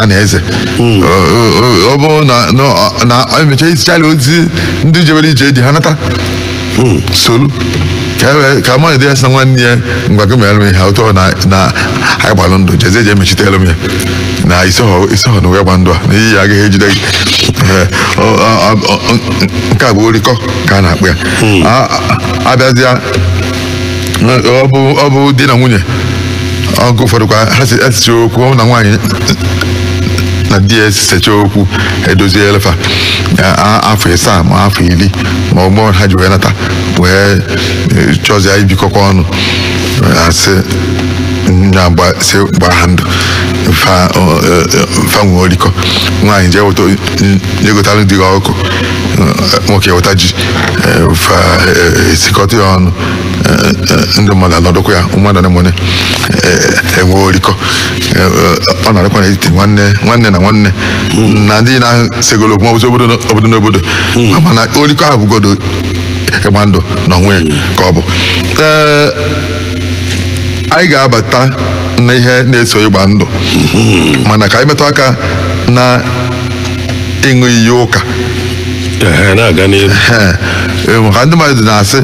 a na-eze O- o- o- ọ bụrụ na- na na emecha isichara ozi ndị jebere ije di ha nata solu ka e wee- ka mmadụ dị ya sị na nwanne ya ngwa gị mere m ihe ụtọ na na anyị gbalụ ndụ jezie je emechitere m ya na isoghọ isoghọ na wee gba ndụ a na iyi ya agaghị ejide gị Ee, ọ- ọ- ọ- ọ- nke a bụ orikọ ka a na-akpọ ya A- a- abịazịa ọ bụ ọ bụ di na nwunye oge ụfọdụ kwa ha si esecha okwu ọ bụ na nwaanyị na di ya esecha okwu edoziela fa a- a- afọ ịsaa ma afọ iri ma mgbe ha ji wee nata wee eh, chọzie ibikọkwa ọnụ asị nya gba si gba ha ndụ fa ọ, eh, eh, fa nwee orikọ nwaanyị jee weta jee gotalụ di ya ọkụkọ eh, nwoke weta ji eh, fa eh, esikọta ya ọnụ eh, eh, ndị mmadụ anọdụkwa ya mmadụ na mmadụ enwe orikọ Eh, eh, ọ na-adịkwa n'etiti nwanne nwanne na nwanne na ndị na-esegolo okwu maọbụzi obodo obodo n'obodo mana orikọ ahụ bụgodo ịgba ndụ n'onwe ka ọ bụ ee anyị ga-abata na ihe na-eso ịgba ndụ mana ka anyị metụ aka na ịṅụ iyi ụka Ehe, na-aga n'iru Ee, ee, maka ndị mmadụ na-asị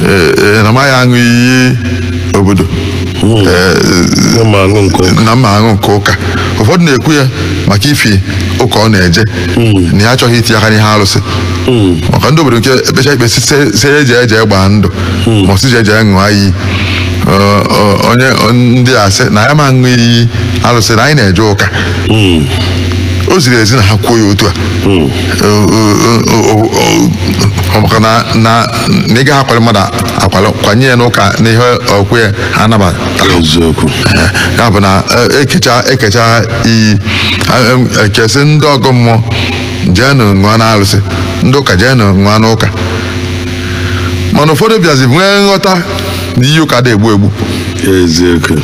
ee, ee, na m agaghị aṅụ iyi obodo na m ma aṅụ nke ụka ụfọdụ na-ekwu ya maka ifi ụka ọ na-eje hmm. na ya achọghị iti aka n'ihe arụsị hmm. maka ndị obodo nke ekpecha ikpe sị ya jee jee gbaa ndụ hmm. ma ọ sị jee jee ṅụọ iyi o nwee ndị asị na ya ma ṅụ iyi arụsị na anyị na-eje ụka o ziri ezi na ha kwuo ya otu a maka na na ị gaghị akwali mmadụ akwali kwanye ya n'ụka na ihe okwukwe ya ha anabata eziokwu ya bụ na eh, ekecha ekecha iyi eh, em, ekee sị ndị ọgọ mmụọ jeenụ ṅụọ na arụsị ndị ụka jeenụ ṅụọ na ụka mana ụfọdụ bịazi nwee nghọta na iyi ụka adị egbu egbu eziokwu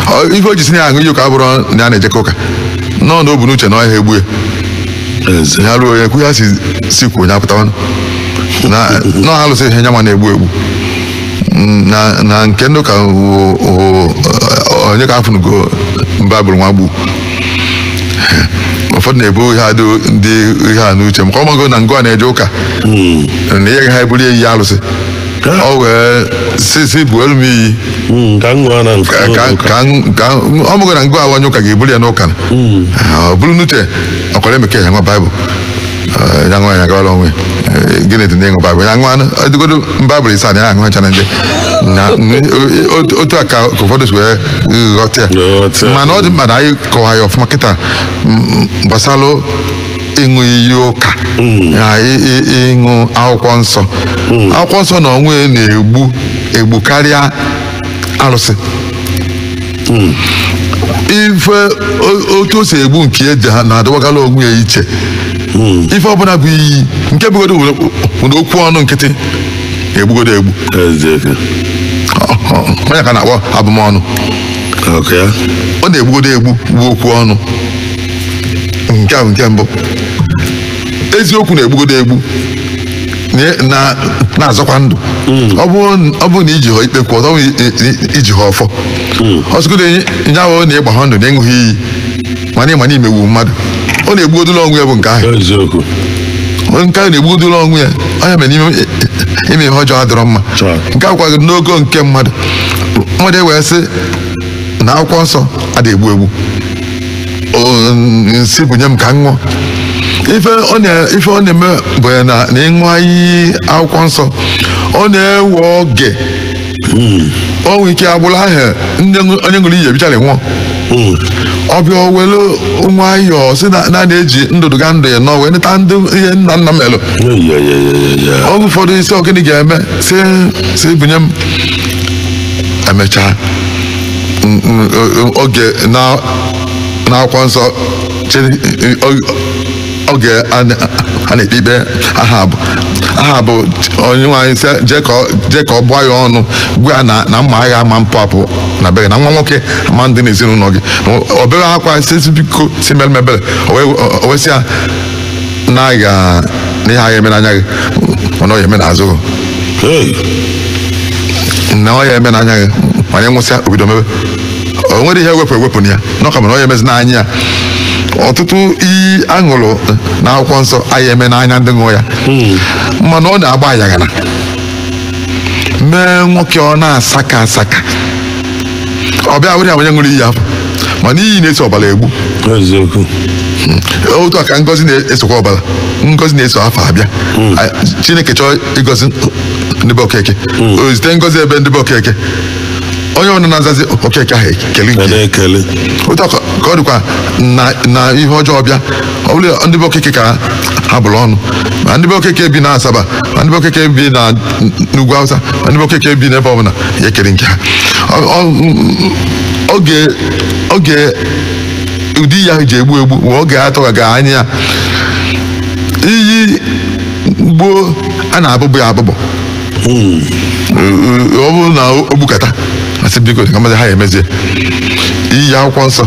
Ọ- ife o ji sị na ya aṅụ iyi ụka abụrọ na ya na-ejekọ ụka na ọọ na o bu n'uche na ọ gaghị egbu ya eziokwu ya ruo onye kwu ya si si kwuo onye apụtawanụ na na alụsị ihe nyanwa na-egbu egbu Mm, na na nke ndị ụka wụ- wụ- ọ- onye ka afụnugo baịbụl nwa gbu ụfọdụ na-ebu ihe a dị- dị ihe a n'uche maka ọmago na ngụ a na-eje ụka na ihe ha eburu iyi alụsị ọ wee si si buolu m iyi Mm, ka m ṅụọ na nke ka- ka- ka m- ka m- ọmago na ngụ a wụ onye ụka ga-eburu ya n'ụka o buru n'uche akwara eme ka ya ṅụa baịbụl Eh, ya ṅụọ ya gawala onwe Eh, gịnị dị n'ịṅụ baịbụl ya ṅụọnụ ọ dịgodo baịbụl ịsaa na ya aṅụ ha ncha na ndị na n- o- otu- otu a ka ka ụfọdụ si wee ghọta ya Ghọta. mana ọ dị mkpa na anyị kọwa ya ọfụma kịta mm, gbasara ịṅụ iyi ụka na ị- ị- ịṅụ akwụkwọ nsọ akwụkwọ nsọ na onwe ya na-egbu egbu karịa arụsị ife o- otu o si egbu nke eji ha na-adọwakala onwe ya iche ife ọbụla bụ iyi nke bụgodo were were okwu ọnụ nkịtị egbugodo egbu Eziokwu. Ọ- ọ- ọ nya ka a na-akpọ abụmọnụ Ọkwa ya. ọ na-egbugodo egbu bụ okwu ọnụ nke a bụ nke mbụ eziokwu na-egbugodo egbu na-azọkwa ndụ hmm. ọ bụrụ na iji ha ikpe kwụ ọtọ iji ha ọfọ hmm. ọsụgodo nye ahụ na ịgba ha ndụ na ịṅụ ha iyi mana ịma na imegbu mmadụ ọ na-egbugodo la onwe ya bụ nke ahụ nke ahụ na-egbugodo la onwe ya ọ nya mere na ime ime ihe ọjọọ adịrọ mma nke a bụkwa n'ogo nke mmadụ mmadụ ewee sị na akwụkwọ nsọ ada egbu egbu o- sị bunye m ka m ṅụọ ife ọ na- ife ọ na-eme bụ ya na na ịṅụ iyi akwụkwọ nsọ ọ na-ewe oge o nwere ike agbụrụ ahụ ndị ṅụ- onye ṅụrụ iyi ebichara nwụọ ọ bịa welu nwayọọ si na na na-eje ndụdụgandụ anọ wee neta ndị ihe nna nna melụ oge ụfọdụ ị sị ọ gịnị ga-eme sị sị bunye m emechaa n- n- o- oge na n'akwụkwọ nsọ Chine- o- oge a na- a na-ekpe ikpe ahab ahab Onyenweanyị sị jee ka ọ- jee ka ọ gbaa ya ọnụ gwa ya na na mma agha ama mpụ apụ na be gị na nwa nwoke ama ndị n'ezinụlọ gị o bewe akwa sị sị biko sị mere m ebere o wee- o wee sị ya na aga na ihe aha eme n'anya gị mana ọ ya eme n'azụ gị Hey, na ọ ya eme n'anya gị mana ị nwụsịa obido mebe o nwere ihe ewepụ ewepụ na ya na ọ ka mana ọ ya emezi n'anya ya ọtụtụ iyi aṅụrụ na akwụkwọ nsọ aha eme n'anya ndị ṅụọ ya mana ọ na-agba ayaghala mee nwoke ọ na-asaka asaka ọbịa were onye ṅụrụ iyi afụ mana iyi na-eso ọbara egbu eziokwu otu a ka ngozi na-esokwa ọbara ngozi na-eso afa abịa A- chineke chọọ ịgọzi ndị be okeke o zite ngozi ebe ndị be okeke onye ọbụla na-azazi okeke ahụ ekele nke ya. otu a ka ka ọ dịkwa na- na ihe ọjọọ bịa ọ bụrụ ndị be okeke ka a bụrụ ọnụ ma ndị be okeke bi na asaba ma ndị be okeke bi na ugwu awụsa ma ndị be okeke bi n'ebe ọbụla ya ekere nke ha Ọ- ọ- m- oge oge ụdị iyi a ji egbu egbu bụ oge a tụkwaghị anya iyi gboo a na-abụbụ ya abụbụ ọ bụrụ na o gbukata a sị biko ka mmadụ ha ya emezie iyi akwụkwọ nsọ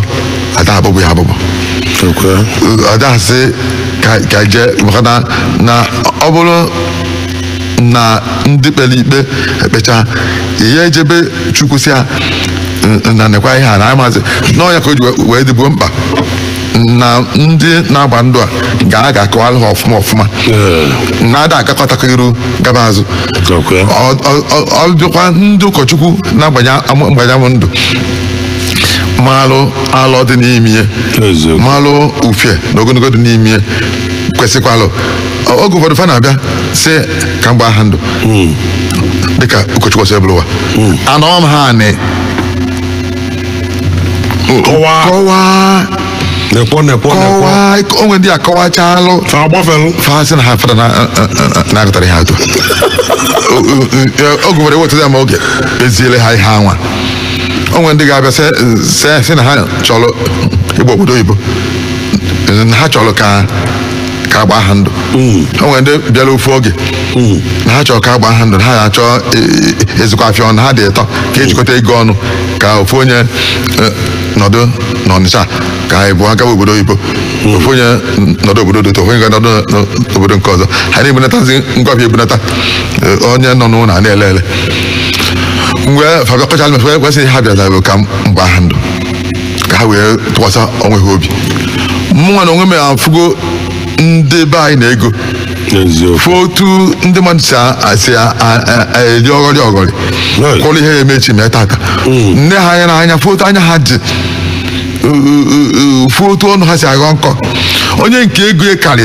ada abụbụ ya abụbụ ada asị ka ka jee maka na na ọ bụrụ na ndị kpere ikpe ekpecha ya e jebe chukwu sị ya na nekwa ihe a na amazi n'ọnya ka o ji wee dịbuo mkpa na ndị na-agba ndụ a ga-aga akọwara ha ọfụma ọfụma na a da agakatakwa iru gaba azụ ọ dịkwa ndị ụkọchukwu na-agbanye agbanye ndụ malụ alọ dị n'ime ihe malụ ufie na ogologo dị n'ime ihe kwesịkwalụ Ọ- oge ụfọdụ fa na-abịa sị ka m gbaa ha ndụ dịka ụkọchukwu ọsọ ebụlụwa anọọ m ha anị Kọwaa. kọwaa nekwo nekwo nekwo kọwaa o nwe ndị a kọwachalụ fa agbafelu fa sị na ha fada na aghọtara ihe atụ oge nwere wetụta ma oge eziele ha ihe anwa o nwe ndị ga-abịa sị- sị- sị na ha chọrọ ịgba obodo oyibo na ha chọrọ ka ka a gbaa ha ndụ o nwere ndị bịara ofu oge na ha chọrọ ka a gbaa ha ndụ na ha achọ ịzụkọ afịa ọnụ ha dị ịtọ ka e jikọta ego ọnụ ka ofu onye eh, nọdụ n'ọnịcha ka abụọ gaba obodo oyibo ofu onye nọdụ obodo dị otu a ofu onye ga-anọdụ n- n'obodo nke ọzọ ha na-ebunatazi ngwa afịa ebunata eh, onye nọ n'ụlọ a na-ele ele mgbe fa bịa kọchaalụ m ife kwesịrị ha bịara bụ ka m gbaa ha ndụ ka ha wee tụkwasị onwe ha obi mụnwa na onwe m afụgo ndị be anyị na ego fụ otu ndị mmadụ si a- a- si a- a- a- a- eri ọghọrị ọghọrị Right. kọrọ ihe ya-eme echi mee tata nee ha anya n'anya fụ otu anya ha dị fụ otu ọnụ ha si aghọ nkọ onye nke ego ya karị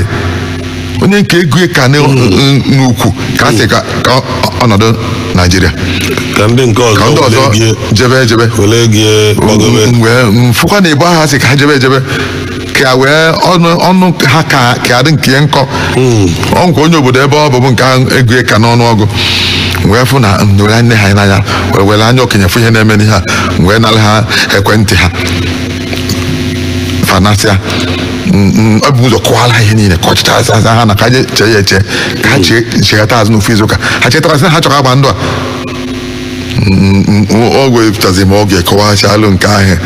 onye nke ego ya ka na- n'ukwu ka a sị ka ka ọ nọdụ naijiria ka ndị nke ka ndị ọzọ ọzọ were gie- jebe ejebe were gie gbagobe M- wee m fụkwa na igbo ha sị ka ha jebe ejebe ka wee ọnụ ọnụ ha ka ka adị nke ya nkọ ọ nkwa onye obodo ebe ọ bụ bụ nke ahụ ego ya ka n'ọnụ ọgụ M wee fụ na m were nee ha anya wee were anya okenye fụ ihe na-eme n'ihe a M wee nara ha ekwentị ha fa nasịa e bu ụzọ kọwala ha ihe niile ka ọchịcha aza aza ha na ka je chee ya eche ka ha chighata azụ n'ofu izu ụka ha chetara sị na ha chọrọ ka a gbaa ndụ a ewepụtazi m oge kọwachalụ nke ahụ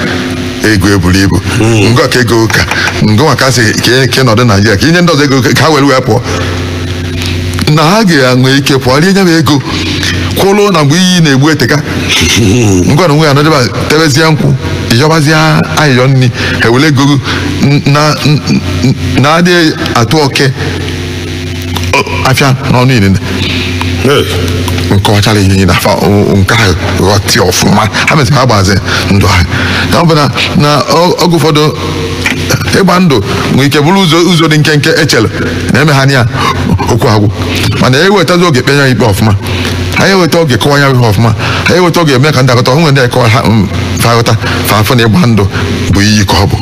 ego ya buru ibu ngwa ka ego ka ngwa ka a sị ka ọ nọdụ naijiria ka i nye ndị ọzọ ego ka ha were wee pụọ na ha ga-enwe ike pụọ rie ya bụ ego kwụrụ na mgbe iyi na-egbu eteka ngwa na onwe ya nọdụ ebe a tebezie nkwụ ịyọbazie ayịyọ nri ha ewere ego n- na n- n- na-adịghị atụ oke ọ- afịa n'ọnụ inene Hey. m kọwachara ihe na afa o- nke ahụ ghọta ọfụma ha mesịrị ha gbazi ndụ ahụ ya ọ bụ na na ọ- oge ụfọdụ ịgba ndụ nwere ike bụrụ ụzọ ụzọ dị nkenke e chere na e mee ha ya okwu agwụ mana e wetazi oge kpe ya ikpe ọfụma anyị eweta oge kọwa ya ihe ọfụma anyị eweta oge eme ka ndị a ghọta onwe ndị anyị kọwa ha mm, fa aghọta fa afụ na ịgba ndụ bụ iyi ka ọ bụ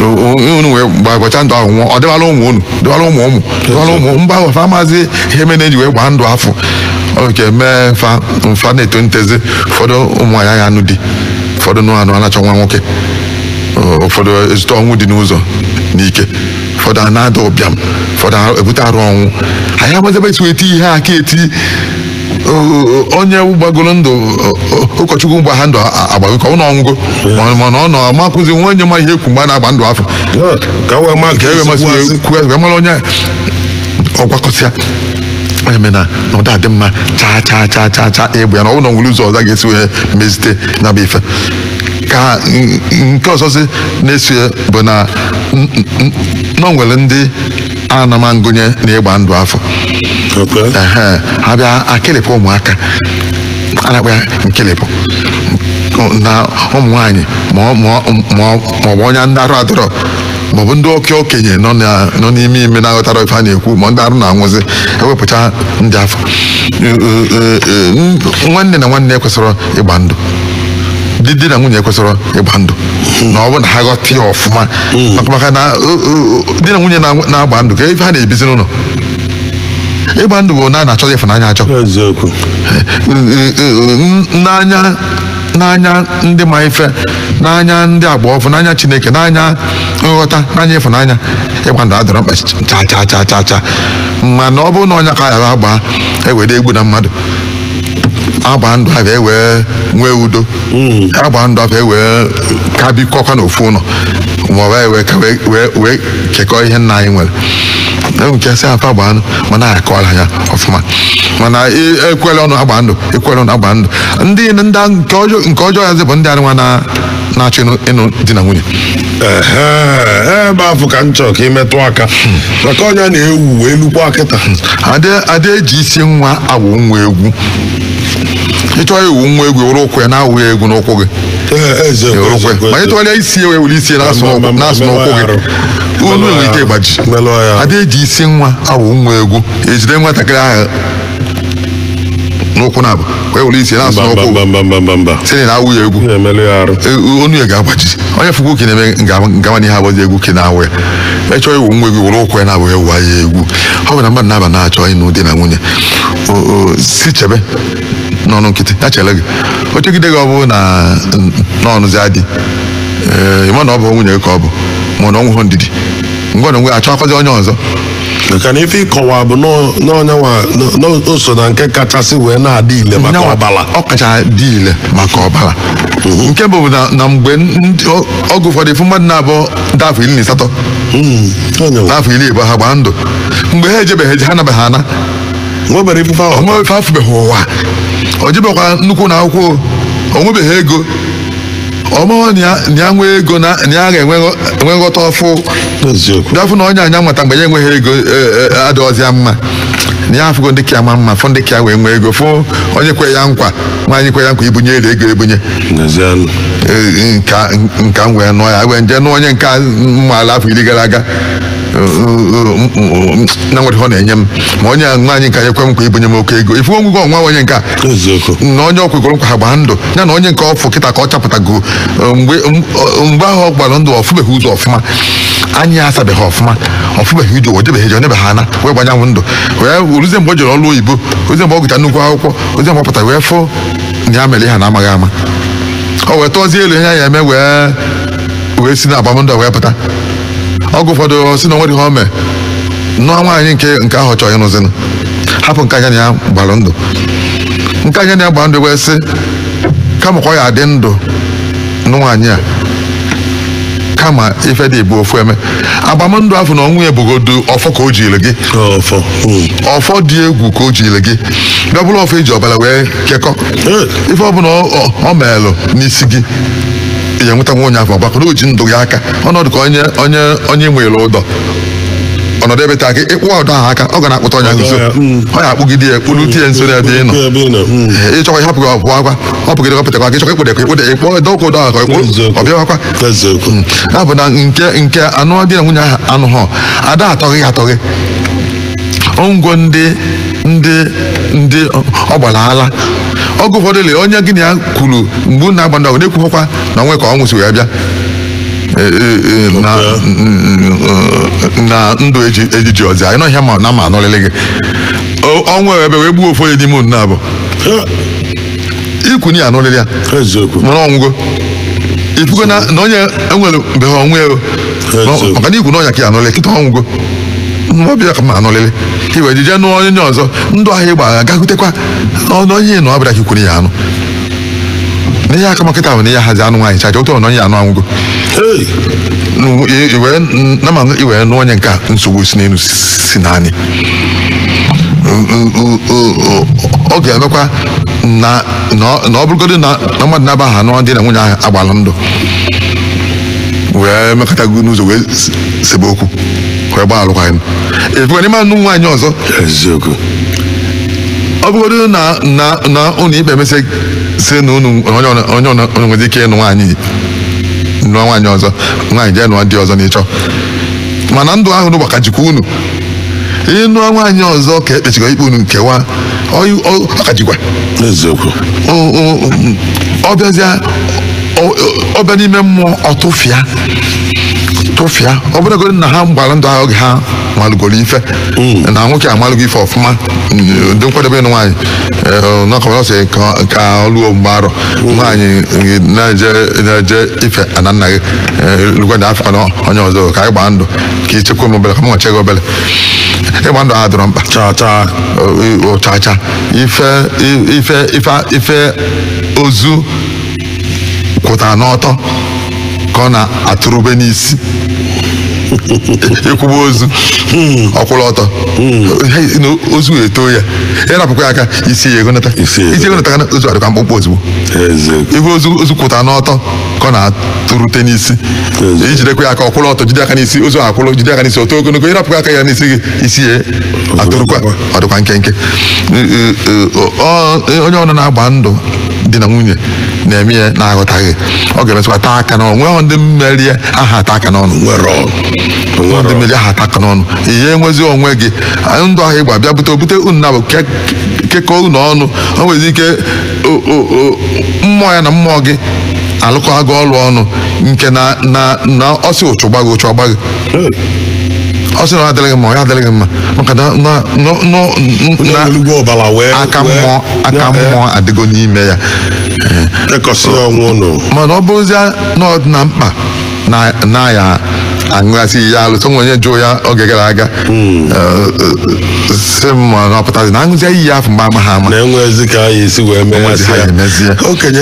O- o- unu wee gbagocha ndụ ahụ nwụọ ọ dịwala ụmụ unu dịwala ụmụ ụmụ dịwala ụmụ mgbe ahụ fa amazị ihe mere e ji wee gbaa ndụ afụ ọ bụ ka emee fa mfa na-eto ntezi ụfọdụ ụmụ nwaanyị agha anụ di ụfọdụ nụ anụ a na-achọ nwa nwoke ụfọdụ ezute ọnwụ dị n'ụzọ n'ike ụfọdụ a na-ada ụbịam ụfọdụ a ebute arụ ọnwụ anyị amazị ebe e si eti ihe aka eti o- onye gbagoro ndụ o- o- ụkọchukwu gba ha ndụ a- agbago ka ọ na ọ nwụgo Ma- mana ọ nọ amakụzi nwa onye ma ihe e kwu mgbe a na-agba ndụ afụ ka wee ma ka ewe masị wee kwuo wee mara onye ọ gwakọsịa eme na na ọ da adị mma chaa chaa chaa chaa chaa egbe ya na ọ bụrụ na o nwere ụzọ ọzọ a ga-esi wee mezite ya bụ ife ka n- nke ọzọzi na-eso ya bụ na n- n- na o nwere ndị a na-ama ngụnye na ịgba ndụ afụ Okay. Ehe, ha bịa akịlịpụ ụmụaka a na-akpọ ya nkịlịpụ na ụmụ nwaanyị ma ọ- ma ọ- ma ọ- ma ọ bụ onye ndị arụ adọrọ ma ọ bụ ndị oke okenye nọ na- nọ n'ime ime na-aghọtarọ ife a na-ekwu ma ndị arụ na-anwụzi ewepụcha ndị afụ Ee, ee, ee, ee, nwanne na nwanne ekwesịrọ ịgba ndụ di di na nwunye kwesịrị ịgba ndụ na ọ bụ na ha ghọta ya ọfụma maka maka na o- o- o- di na nwunye na- na-agba ndụ ka ife ha na-ebizi n'ụnọ ịgba ndụ bụ na a na-achọ ya ịfụnanya achọ eziokwu n'anya n'anya ndị ma ife n'anya ndị agba ọfụụ n'anya chineke n'anya nghọta n'anya ịfụnanya ịgba ndụ adịrọ mkpa cha cha cha cha cha mana ọ bụrụ na ọ nya ka a ya-agba e were egbuna mmadụ agba ndụ afụ e wee nwee udo agba ndụ afụ e wee ka bikọkwa n'ofu ụnọ ma ọ bụ anyị wee ka wee- wee wee kekọọ ihe nna anyị nwere enwe nke sị afa agba ndụ mana anyị akọọla ya ọfụma mana e- ekwela ọnụ agba ndụ ekwela ọnụ agba ndụ ndị ndị nke ọjọọ nke ọjọọ ya zị bụ ndị anụnwa na na-achọ ịnụ ịnụ di na nwunye Ehe, ebe afụ ka m chọrọ ka i metụ aka maka ọ nya na-ewu wee lukwa kịta A da- a da-eji isi nwa awụ nwa egwu ị chọọ ịwụ nwa egwu were ụkwụ ya na-awụ ya egwu n'ụkwụ gị Ee, eze Ya were ụkwụ ya. ma ị tụgharịa isi ya wee were isi ya na-asụ Ma- ma- n'ụkwụ- ma- na-asụ ma- n'ụkwụ ma- gị ma- olu ma- nwere ike ịgbaji melụọ ya. a da-eji isi nwa awụ nwa egwu ejide nwatakịrị ahụ n'ụkwụ naabọ wee were isi na-asụ n'ụkwụ mba mba mba mba mba sị na ị na-awụ ya egwu ị na-emelụ ya arụ E- onu ya ga-agbaji onye fụkwa oke na-eme ngawa n'ihe abụzi egwu ka ị na-awụ ya ma ị chọọ ịwụ nwa egwu were ụkwụ ya naabọ wụwa ya egwu ọ bụ na mmadụ naabọ na-achọ ịnụ di na nwunye O- o, sị chebe n'ọnụ nkịtị ya chere gị o chegide gị ọ bụrụ na n'ọnụzi adị ee ị ma na ọ bụ nwunye gị ka ọ bụ ma ọ na o nweghị ndidi ngwa na onwe achọkwazi onye ọzọ maka na ife ị kọwa bụ na ọ nyanwa o so na nke kachasị wee na-adị ile maka Nyanwa, ọbara ọ kacha dị ile maka ọbara nke bụ na na mgbe ndị- ọ- oge ụfọdụ ị fụ mmadụ naabọ ndị afọ iri na asatọ Mm, ọ nyanwa. ndị afọ iri ịbụa ha gbaa ndụ mgbe ha ejebeghị eje ha nabeghị ana nwebere ife ahụ onwe ife afụbeghị ụwa o jebeghịkwa nnukwu ụnọ akwụkwọ o nwebeghị ego ọ maghị na ya- na ya nwee ego na na ya ga-enwe nghọ- enwe nghọta ọfụụ eziokwu bịa fụ na onye anya nwata mgbe ya enweghị ego e, e, adịghọzi ya mma na ya afụgo ndị ka ya ma mma fụ ndị ka ya wee nwee ego fụ onye kwe ya nkwa nwaanyị kwe ya nkwa ibunye ere ego ebunye n'ezianụ E, nka nka m wee nụọ ya wee nje nụ onye nke m maala afọ iri gara aga na-enwerọ ọ na-enye m ma onye a nwaanyị nke a ekwe m nkwa ibunye m oke ego ị fụ onwugo ọnwa onye nke a na onye ọ kwegoro nkwa ha gbaa ndụ ya na onye nke ọfụụ kịta ka ọ chọpụtago mgbe mgbe ahụ ọ gbara ndụ ọ fụbeghị ụzọ ọfụma anya asabeghị ọfụma ọ fụbeghị ije ụwa jebeghị eje ọ nabeghị ana wee gba nyanwụ ndụ wee ruzie mgbe o jere ọrụ oyibo ruzie mgbe ọ gụcha nnukwu akwụkwọ ruzie mgbe ọ pụtara wee fụ na ya mere ihe n'amaghị ama o wee tụọzie elu ihe ya eme wee wee si n'agbamndụ wee pụta oge ụfọdụ si na o nwere ihe o mee nụọ nwaanyị nke nke ahụ chọọ ịnụzinụ hapụ nke a nya na ya gbara ndụ nke a nya na ya gbara ndụ wee sị kama ka ọ ya adị ndụ nụ nwaanyị a kama ife dị ịbụọ ofu emee agbamndụ afụ n'onwe ya bụgodu ọfọ ka o jiri gị ọfọ mm. ọfọ dị egwu ka o jiri gị bịa bụrụ ọfọ e ji ọbara wee kekọ Ee. ife ọbụla ọ- ọ- ọ meelụ n'isi gị ị ga-enweta nwa onye afụ ọgbakọ na o ji ndụ gị aka ọ na-adị ka onye onye onye nwere ụdọ ọ nọdụ ebe taa ka ị kpụ ụdọ ahụ aka ọ ga na-akpụta onye nso ọ ya akpụgide ya kpụrute nso n'ebe ị nọ ebe ị nọ mm. Ee, ị chọkwa ịhapụ ya ọ pụọkwa ọ pụgide ọ pụtekwa aka ị chọkwa ịkpụda ka ịkpụda ịkpọ dọkwa ụdọ ahụ ka ị kpụrụ Eziokwu. ọ bịawakwa eziokwu ya bụ na nke nke anụ di na nwunye ahụ anụghọ ada atọghị ya atọghị o nwego ndị ndị ndị ọ gbara ala oge ụfọdụ le onye gị na ya kwuru mgbe unu na-agba ndụ ahụ na-ekwughọkwa na onwe ka ọ nwụsị wee bịa Eh, eh, eh, na na ndụ eji ejiji ọzọ anyị nọ ihe ma na ma anụlili gị O- ọnwụ abịa wee gbuo ofu onye n'ime unu naabọ i kwu na ị ya-anụlili ya eziokwu mana ọ nwụgo ị fụgo na na onye enwere mgbe ha ọnwụ ego Eziokwu. maka na i kwu na ọ nya ka ị ya-anụlili kịta ọ nwụgo mma ọ bụ ya ka ma anụlili i wee jije nụọ onye ọzọ ndụ ahụ ị gba ga gakwutekwa n'ọnụ onye ị nọ ọ bụ ya ka i kwuru ị ya-anụ na ihe ka mma kịta bụ na ihe hazi anụ nwaanyị chacha ụtọ na onye anụ anwụgo nama i wee nụ onye nke a nsogbu si n'elu si n'anị ọ ga-emekwa na ọ bụrụgodị na mmadụ naabọ ahụ anụ di na nwunye ahụ agbala ndụ wee mekọtago n'ụzọ wee sebe okwu wee gbaa alụkwaghị m ị fụkwa na ị ma anụ nwaanyị ọzọ eziokwu ọ bụgodị na na na ụlọ ikpe emesị sị na unu onye ọna- onye ọna- unu nwere ike ịnụ nwaanyị nụọ nwaanyị ọzọ nwaanyị jee nụọ di ọzọ n'ịchọ mana ndụ ahụ unu gba ka jikwa unu ị nụ nwaanyị ọzọ ka e kpechigo ikpe unu nkewa ọ- ọ- ọ ka jikwa eziokwu ọ- ọ- ọ bịazịa ọ- ọ bịa n'ime mmụọ ọtụfịa tụfịa ọ bụrụgodị na ha gbara ndụ ahụ oge ha malụgoro ife mm. na nwoke amalụgo ife ọfụma dị nkwadebe ịnụ nwaanyị eh, nakọbara sị ka ọ lụọ mgbe arọ mm. nwaanyị eh, na-eje ife ana nna gị eh, lụkwada afọ na onye ọzọ ka anyị gbaa ndụ ka i chekwa m obere ka m wee chee gị obere ịgba ndụ adịrọ mkpa chacha ife ozu kwụtara n'ọtọ ka ọ na-atụrụbe n'isi ikuba ozu ọ kwụrụ ọtọ ozu etoo ya ịrapụkwa ya aka isi ya egonata isi egonata ka ozu adịkwa mkpụmkpụ ozugbo ife ozu kwụtara n'ọtọ ka ọ na-atụrụte n'isi ijidekwa ya aka ọ kwụrụ ọtọ jide aka n'isi ozu akwụrụ jide aka n'isi o too ogologo ịrapụkwa aka ya n'isi gị isi ya atụrụkwa ọ dịkwa nkenke onye ọbụna na-agba ndụ di na nwunye na-eme ya na-aghọtaghị ọ ga-emesịkwa taa aka n'ọnụ nweghị ndị mmeri ya aha ata aka n'ọnụ ndị mmeri aha ata aka n'ọnụ ihe enwezi onwe gị ndụ ahụ ị gba bịa bute obute unu naabọ kekọọ unu ọnụ o nwezi ike mmụọ ya na mmụọ gị alụkọ agụ ọrụ ọnụ nke na ọ sị ụchụ gbaa gị ụchụ agbaa gị ọ sị na ya adịghị mma ya adịghị mma maka na aka mmụọ adịgo n'ime ya mana ọ bụrụzie na ọ dị na mkpa na ya aṅụghasị ya alụsị onwe onye jụụ ya oge gara aga sị m ma na ọ pụtazi na aṅụzie iyi ya afọ mgbe amaghị ama na enwe ezi ka anyị esi wee Enwe ezi ha meghasịa ga-emezie. okenye